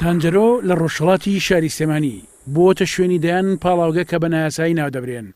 تانجەرۆ لە ڕۆژهەڵاتی شاری سلێمانی، بووەتە شوێنی دەیان پاڵاوگە کە بە نایاسایی ناودەبرێن،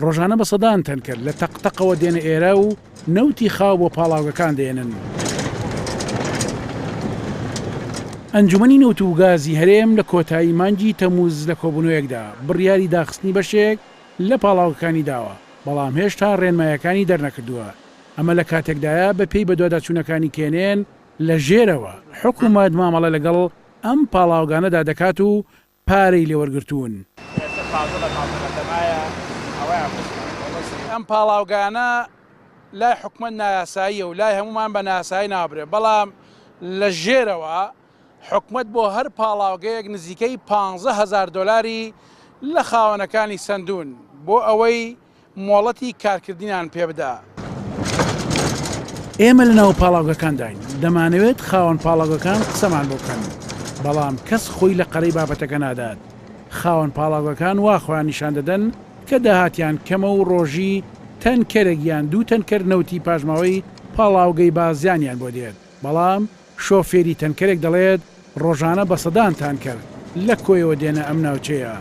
ڕۆژانە بە سەدان تەنکەر لە تەق تەقەوە دێنە ئێرە و نەوتی خاو بۆ پاڵاوگەکان دێنن. ئەنجومەنی نەوت و گازی هەرێم لە کۆتایی مانگی تەمووز لە کۆبوونەوەیەکدا بڕیاری داخستنی بەشێک لە پاڵاوگەکانی داوە، بەڵام هێشتا ڕێنمایەکانی دەرنەکردووە. ئەمە لە کاتێکدایە بە پێی بەدواداچوونەکانی کێنێن لە ژێرەوە حکومەت مامەڵە لەگەڵ ئەم پاڵاوگانەدا دەکات و پارەی لێ وەرگرتوون. ئەم پاڵاوگانە لای حکومەت نایاساییە و لای هەموومان بە نایاسایی ناو دەبرێن، بەڵام لە ژێرەوە حکومەت بۆ هەر پاڵاوگەیەک نزیکەی پانزە هەزار دۆلاری لە خاوەنەکانی سەندوون بۆ ئەوەی مۆڵەتی کارکردنیان پێبدا. ئێمە لە ناو پاڵاوگەکانداین، دەمانەوێت خاوەن پاڵاوگەکان قسەمان بۆ بکەن، بەڵام کەس خۆی لە قەرەی بابەتەکە نادات، خاوەن پاڵاوگەکان وا خۆیان نیشان دەدەن کە داهاتیان کەمە و ڕۆژی تەنکەرێک یان دوو تەنکەر نەوتی پاشماوەی پاڵاوگەی بازیانیان بۆ دێت، بەڵام شۆفێری تەنکەرێک دەڵێت، ڕۆژانە بە سەدان تانکەر لە کۆیەوە دێنە ئەم ناوچەیە.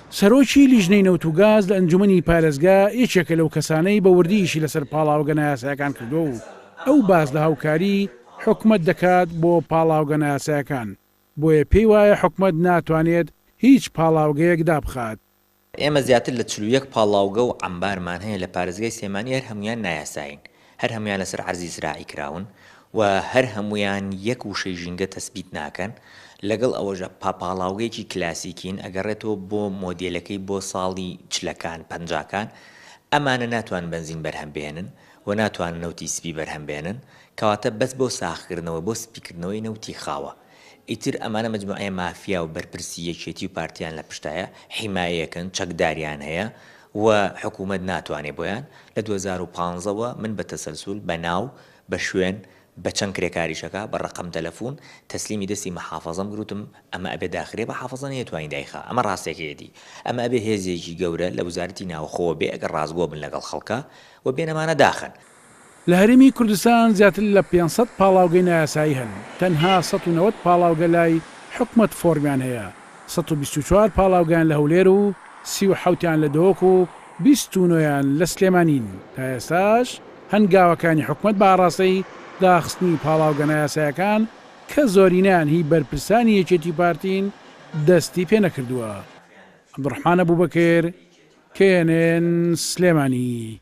سەرۆکی لیژنەی نەوت و گاز لە ئەنجومەنی پارێزگا یەکێکە لەو کەسانەی بە وردی ئیشی لەسەر پاڵاوگە نایاسایەکان کردووە و ئەو باس لە هاوکاری حکومەت دەکات بۆ پاڵاوگە نایاسایەکان، بۆیە پێی وایە حکومەت ناتوانێت هیچ پاڵاوگەیەک دابخات. ئێمە زیاتر لە چل و یەک پاڵاوگە و عەمبارمان هەیە لە پارێزگای سلێمانی هەر هەموویان نایاسایین، هەر هەموویان لەسەر عەرزی زراعی کراون و هەر هەموویان یەک وشەی ژینگە تەسبیت ناکەن، لەگەڵ ئەوەشدا پاپاڵاوگەیەکی کلاسیکین، ئەگەڕێتەوە بۆ مۆدێلەکەی بۆ ساڵی چلەکان، پەنجاکان، ئەمانە ناتوانن بەنزین بەرهەم بهێنن و ناتوانن نەوتی سپی بەرهەم بهێنن، کەواتە بەس بۆ ساغکردنەوە، بۆ سپیکردنەوەی نەوتی خاوە. ئیتر ئەمانە مەجموعەیە مافیا و بەرپرسی یەکێتی و پارتیان لە پشتایە، حیمایەکن، چەکداریان هەیە و حکوومەت ناتوانێ بۆیان. لە دوو هەزار و پازدە وە من بە تەسەلسول، بە ناو، بە شوێن، بە چەند کرێکاریشەکە، بە ڕەقەم تەلەفوون، تەسلیمی دەستی مەحافەزەم کرد وتم ئەمە ئەبێ داخرێ بەحافەزە نەیەتوانی دایخا. ئەمە ڕاستێکەیەتی. ئەمە ئەبێ هێزێکی گەورە لە وزارەتی ناوخۆوە بێ ئەگەر ڕاستگۆ بن لەگەڵ خەڵکا و بێن ئەمانە داخەن. لە هەرێمی کوردستان زیاتر لە پێنج سەد پاڵاوگەی نایاسایی هەن، تەنها سەد و نەوەد پاڵاوگە لای حکومەت فۆرمیان هەیە، سەد و بیست و چوار پاڵاوگەیان لە هەولێر و سی و حەوتیان لە دهۆک و بیست و نۆیان لە سلێمانین، تا ئێستاش هەنگاوەکانی حکومەت بە ئاڕاستەی داخستنی پاڵاوگە نایاسایەکان کە زۆرینەیان هی بەرپرسانی یەکێتی و پارتین دەستی پێ نەکردووە. عەبدولڕەحمان ئەبوبەکر، knn، سلێمانی.